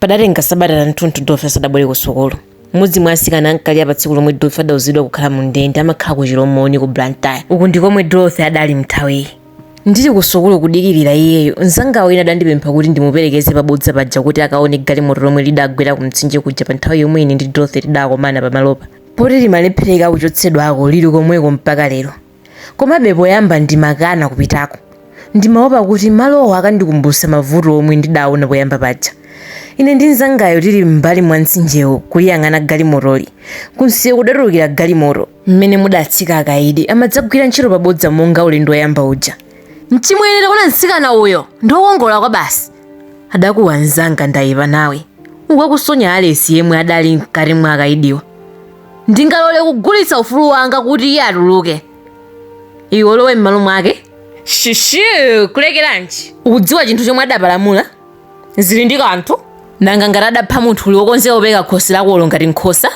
Padatenga sabata lanthunthu Dorothy asadabwere kusukulu. M'modzi mwa atsikana ankali apa tsiku lomwe Dorothy adauzidwa kukhala mundende amakhala ku Chilomoni ku Blantyre. Uku ndikomwe Dorothy adali mnthawiyi. Ndili kusukulu kudikilira iyeyo, mzanga wina adandipempha kuti ndimuperekeze pa bodza paja kuti akaone galimoto lomwe lidagwera kumtsinje kuja panthawi yomwe ine ndi Dorothy tidakomana pamalopa. Poti limalephereka kuchotsedwako lili komweko mpaka lero. Komabe poyamba ndimakana kupitako. Ndimaopa kuti malowo akandikumbutsa mavuto omwe ndidaona poyamba paja. Ine ndi mnzangayo tili m'mbali mwa mtsinjewo kuliyang'ana galimotoli, kumsewu kudatulukira galimoto m'mene mudatsika akaidi amadzagwira ntchito pa bodza monga ulendo woyamba uja. Mchimwene, taona mtsikana uyo! Ndi wokongola kwabasi! adakuwa mnzanga Ndayipanawe, uku akusonya Alesi yemwe adali mkati mwa akaidiwa. ndingalole kugulitsa ufulu wanga kuti iye atuluke iwe ulowe m'malo mwake shishu kulekeranji ukudziwa chinthu chomwe adapalamula zili ndi kanthu nanga ngati adapha munthu uli wokonzeka kupereka khosi lakolo ngati nkhosa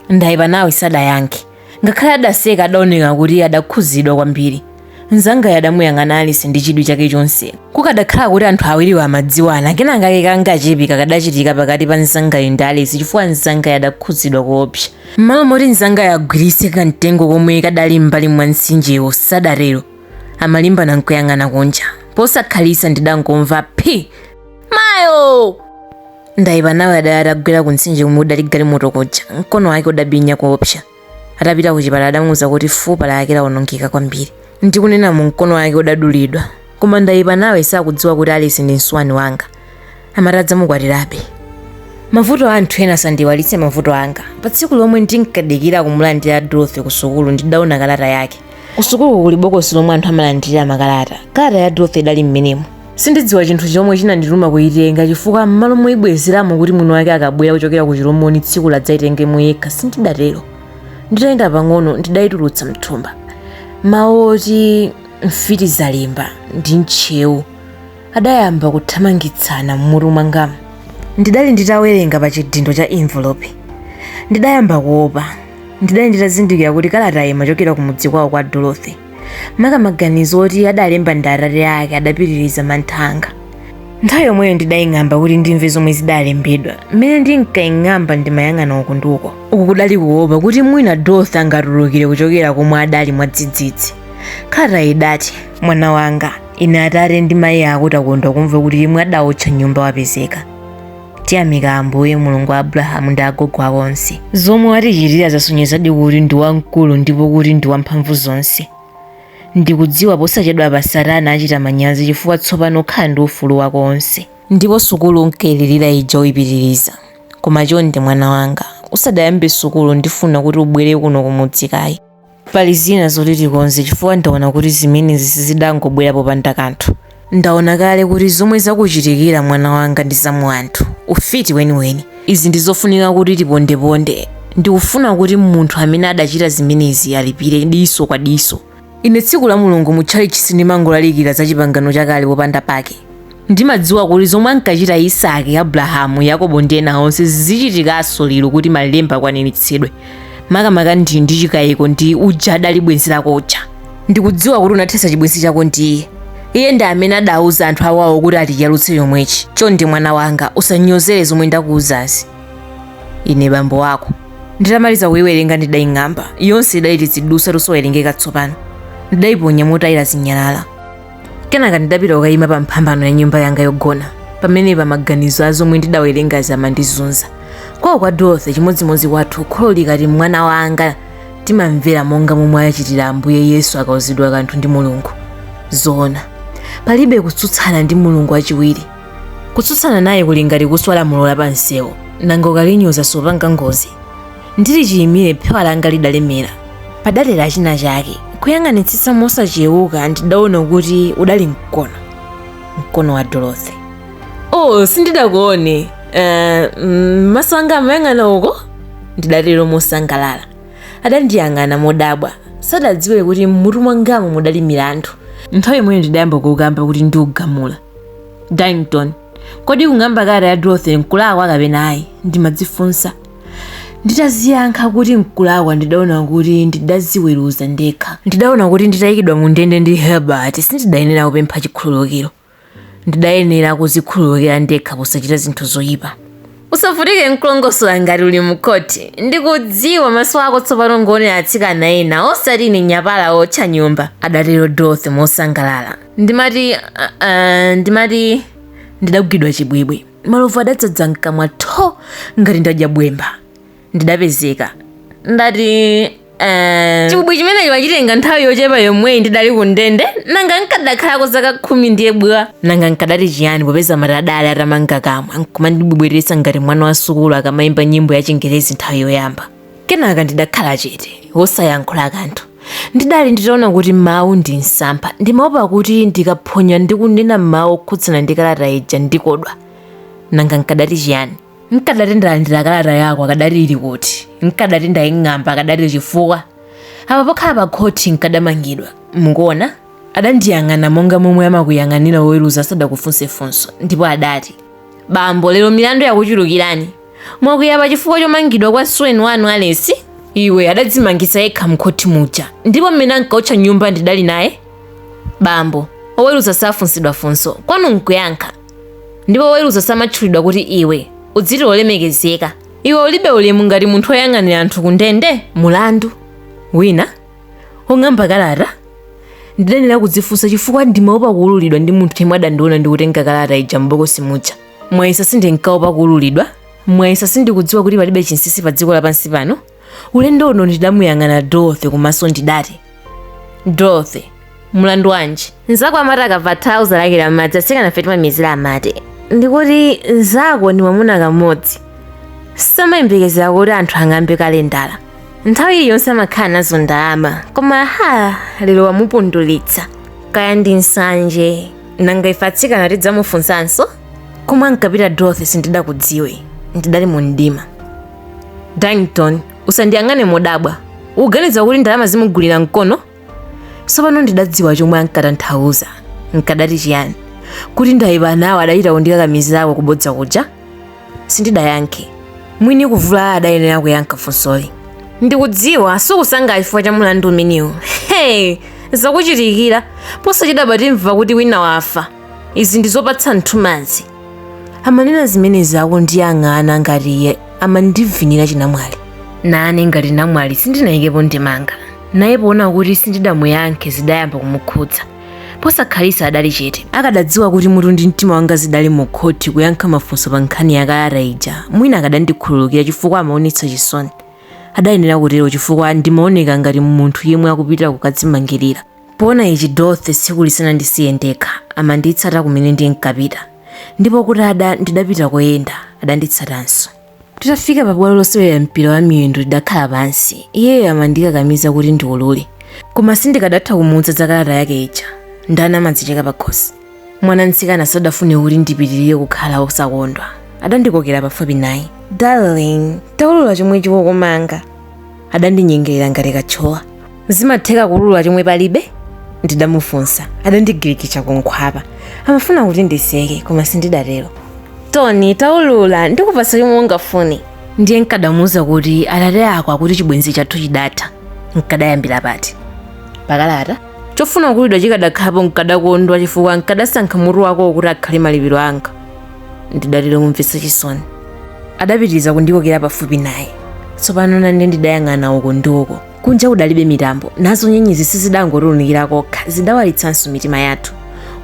ndayipanawe sadayankhe ngakhale adaseka adaoneka kuti adakhuzidwa kwambiri Mnzangayo adamuyang'ana Alesi ndi chidwi chake chonse. Kukadakhala kuti anthu awiriwo amadziwana, kenakake kangachepe kakadachitika pakati pa mnzangayo ndi Alesi chifukwa mnzangayo adakhudzidwa koopsa. M'malo moti mnzangayo agwiritse kamtengo komwe kadali m'mbali mwa mtsinjewo, sadatero. Amalimbana nkuyang'ana kunja. Posakhalitsa ndidangomva phi! Mayo! Ndayipanawe adali atagwera kumtsinje komwe kudali galimoto kuja. Mkono wake udabinya koopsa. Atapita kuchipatala adamuuza kuti fupa lake lawonongeka kwambiri. Ndikunenamu mkono wake udadulidwa. Koma Ndayipanawe sakudziwa kuti Alesi ndi msuwani wanga. Amati adzamukwatirabe. Mavuto a anthu ena sandiiwalitse mavuto anga. Pa tsiku lomwe ndinkadikira kumulandira Dorothy kusukulu ndidaona kalata yake. kusukuluku kuli bokosi lomwe anthu amalandirira makalata kalata ya dorothy idali mmenemo sindidziwa chinthu chomwe chinandituma kuyitenga chifukwa m'malo moyibwezeramo kuti mwini wake akabwera kuchokera ku chilomoni tsikulo adzayitengemo yekha sindidatero nditayenda pang'ono ndidayitulutsa mthumba mawu oti mfitizalimba ndi ntcheu adayamba kuthamangitsana m'mutu mwangamu ndidali nditawerenga pa chidindo cha envelope ndidayamba kuopa ndidali nditazindikira kuti kalatayi imachokera ku mudzi kwawo kwa dorothy maka maganizo oti adalemba ndi atate ake adapitiriza mantha anga nthawi yomweyo ndidaying'amba kuti ndimve zomwe zidalembedwa mmene ndinkaying'amba ndimayang'ana uku ndi uko uku kudali kuopa kuti mwina dorothy angatulukire kuchokera komwe adali mwadzidzidzi kalatayi idati mwana wanga ine atate ndi mayi ako takondwa kumva kuti yemwe adawotcha nyumba wapezeka tiyamika ambuye mulungu wa abrahamu ndi agogo ako onse zomwe watichitira zasonyezadi kuti ndi wamkulu ndipo kuti ndi wamphamvu zonse ndikudziwa posachedwapa satana achita manyazi chifukwa tsopano ukhala ndi ufulu wako wonse ndipo sukulu unkailirira ija uyipitiriza koma chonde mwana wanga usadayambe sukulu ndifuna kuti ubwere kuno kumudzi kaye pali zina zoti tikonze chifukwa ndaona kuti zimenezi sizidangobwera popanda kanthu ndaona kale kuti zomwe zakuchitikira mwana wanga ndi zamu anthu ufiti weniweni izi ndi zofunika kuti tipondeponde ndikufuna kuti munthu amene adachita zimenezi alipire diso kwa diso ine tsiku la mulungu mu tchalitchi sindimangolalikira za chipangano chakale popanda pake Ndimadziwa kuti zomwe ankachita Isaki, Abulahamu, Yakobo ndi ena onse zichitikanso lero kuti malemba akwaniritsidwe. Makamaka ndili nchikayiko ndi uja adali bwenzi lako uja. Ndikudziwa kuti unathetsa chibwenzi chako ndi iye. Iye ndi amene adauza anthu awawo kuti atiyalutse chomwechi. Chonde mwana wanga, usanyozere zomwe ndakuuzazi. Ine bambo wako. Nditamaliza kuiwerenga ndidaing'amba. Yonse idali tizidutswa tosawerengeka tsopano. Ndidaiponya motayira zinyalala. kenaka ndidapita kukayima pa mphambano ya nyumba yanga yogona pamenepa maganizo a zomwe ndidawerengazi amandizunza kwawo kwa dorothy chimodzimodzi kwathu kholo likati mwana wanga timamvera monga momwe achitira ambuye yesu akauzidwa kanthu ndi mulungu zoona palibe kutsutsana ndi mulungu wachiwiri kutsutsana naye kuli ngati kuswa lamulo la pamsewu nanga ukalinyoza supanga ngozi ndili chiyimire phewa langa lidalemera padatera china chake kuyang'anitsitsa mosachewuka ndidaona kuti udali mkono mkono wa dorothy oh sindidakuone uh, maso anga amayang'ana uko ndidatero mosangalala adandiyang'ana modabwa sadadziwe kuti mmutu mwangamo mudali milandu nthawi yomweyo ndidayamba kukamba kuti ndiugamula dington kodi kung'amba kalata ya dorothy nkulakwa kapena ayi ndimadzifunsa nditadziyankha kuti nkulakwa ndidaona kuti ndidadziweruza ndekha ndidaona kuti nditayikidwa mu ndende ndi herbert sindidayenera kupempha chikhululukiro ndidayenera kudzikhululukira ndekha posachita zinthu zoyipa usavutike nkulongosola ngati uli mukoti ndikudziwa maso ako tsopano ngoonera atsikana ena osati ine nyapala otcha nyumba adatero dorothy mosangalala ndimati ah, ah, ndimati ndidagwidwa chibwibwi malovu adadzadza mkamwa tho ngati ndadya bwemba ndidapezeka ndati eh, chibwibwi chimenecho wachitenga nthawi yochepa yomweyi ndidali ku ndende nanga nkadakhalako zaka khumi ndiye bwa nanga nkadati chiyani popeza mate adali atamanga kamwa nkumandibwebwetetsa ngati mwana wa sukulu akamayimba nyimbo ya chingerezi nthawi yoyamba kenaka ndidakhala chete wosayankhula kanthu ndidali nditaona kuti mawu ndi msampha ndimaopa kuti ndikaphonya ndi kunena mawu okhudzana ndi kalata ija ndikodwa nanga nkadati chiyani nkadati ndalandira kalata yako akadati ili kuti nkadati ndaying'amba akadati chifukwa apa pokhala pa khoti nkadamangidwa mukuona adandiyang'ana monga momwe amakuyang'anira woweruza asadakufunse funso ndipo adati bambo lero milandu yakuchulukirani Mwakuyipa chifukwa chomangidwa kwa msuweni wanu Alesi? Iwe adadzimangisa yekha mkhothi muja ndipo mmene ankaotcha nyumba ndidali naye? Bambo, oweruza safunsidwa funso, kwanu nkuyankha. Ndipo oweruza samatchulidwa kuti iwe, udziti wolemekezeka. Iwe ulibe ulemu ngati munthu oyang'anira anthu ku ndende? Mulandu wina wong'amba kalata ndidayenera kudzifunsa chifukwa ndimaopa kuululidwa ndi munthu yemwe adandiona ndikutenga kalata ija m'bokosi muja. mwayesa sindinkaopa kuululidwa mwayesa sindikudziwa kuti palibe chinsinsi pa dziko lapansi pano ulendo uno ndidamuyang'ana dorothy kumaso ndidati dorothy mulandu wanji nzako amati akava tanthauzo lake la madzi atsikanafe timamizira amati ndikuti nzako ndi mwamuna kamodzi samayembekezera kuti anthu ang'ambe kalendala nthawi iliyonse amakhala nazo ndalama koma ha lero wamupundulitsa kaya ndi nsanje nanga ife atsikana tidzamufunsanso komwe ankapita dorothy sindidakudziwe ndidali mu mdima dangton usandiyang'ane modabwa ukuganiza kuti ndalama zimugulira mkono tsopano ndidadziwa chomwe ankatanthauza nkadati chiyani kuti ndayipa nawo adachita kundikakamizako kubodza kuja Sindidayankhe. Mwini kuvulala adayenera kuyankha funsoli. Ndikudziwa sukusangalala chifukwa cha mulandu umenewu. Hey! Zakuchitikira. Posachedwapa timva kuti wina wafa. Izi ndi zopatsa nthumanzi. Amanena zimenezi akundiyang'ana ngati iye amandivinira chinamwali. Nane ngati namwali sindinayikepo ndemanga. Naye poona kuti sindidamuyankhe zidayamba kumukhudza. posakhalisa adali chete akadadziwa kuti mutu ndi mtima wanga zidali mu khoti kuyankha mafunso pa nkhani ya kalata ija mwina akadandikhululukira chifukwa amaonetsa chisoni adayenera kutero chifukwa ndimaoneka ngati munthu yemwe akupita kukadzimangirira poona ichi dorothy tsikuli sanandisiye ndekha amanditsata kumene ndinkapita ndipo kuti ada ndidapita koyenda adanditsatanso Titafika pa bwalo losewera mpira wa miyendo tidakhala pansi. Iyeyo amandikakamiza kuti ndiulule. Koma sindikadatha kumuuza za kalata yake ija. Ndani amadzicheka pakhosi? Mwana mtsikana sadafune kuti ndipitirire kukhala wosakondwa. Adandikokera pafupi naye. Darling, taulula chomwe chikukumanga. adandinyengerera ngati katchowa zimatheka kuulula chomwe palibe ndidamufunsa adandigirigisha kunkhwapa amafuna kuti ndiseke koma sindidatero tony taulula ndikupasa chomwe ungafune ndiye nkadamuuza kuti atate ako akuti chibwenzi chathu chidatha nkadayambira pati pakalata chofuna kuululidwa chikadakhalapo nkadakondwa chifukwa nkadasankha mutu wako kuti akhale malipiro anga ndidatero mumvetsa chisoni adapitiriza kundikokera pafupi naye tsopano nane ndidayang'ana uko ndi uko kunja kudalibe mitambo nazo nyenyezi sizidangotiunikira kokha zidawalitsanso mitima yathu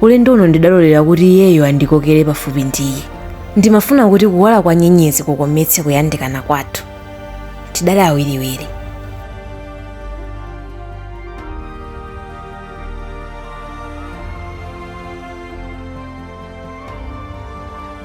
ulendo uno ndidalolera kuti iyeyo andikokere pafupi ndi iye ndimafuna kuti kuwala kwa nyenyezi kukometse kuyandikana kwathu tidali awiriwiri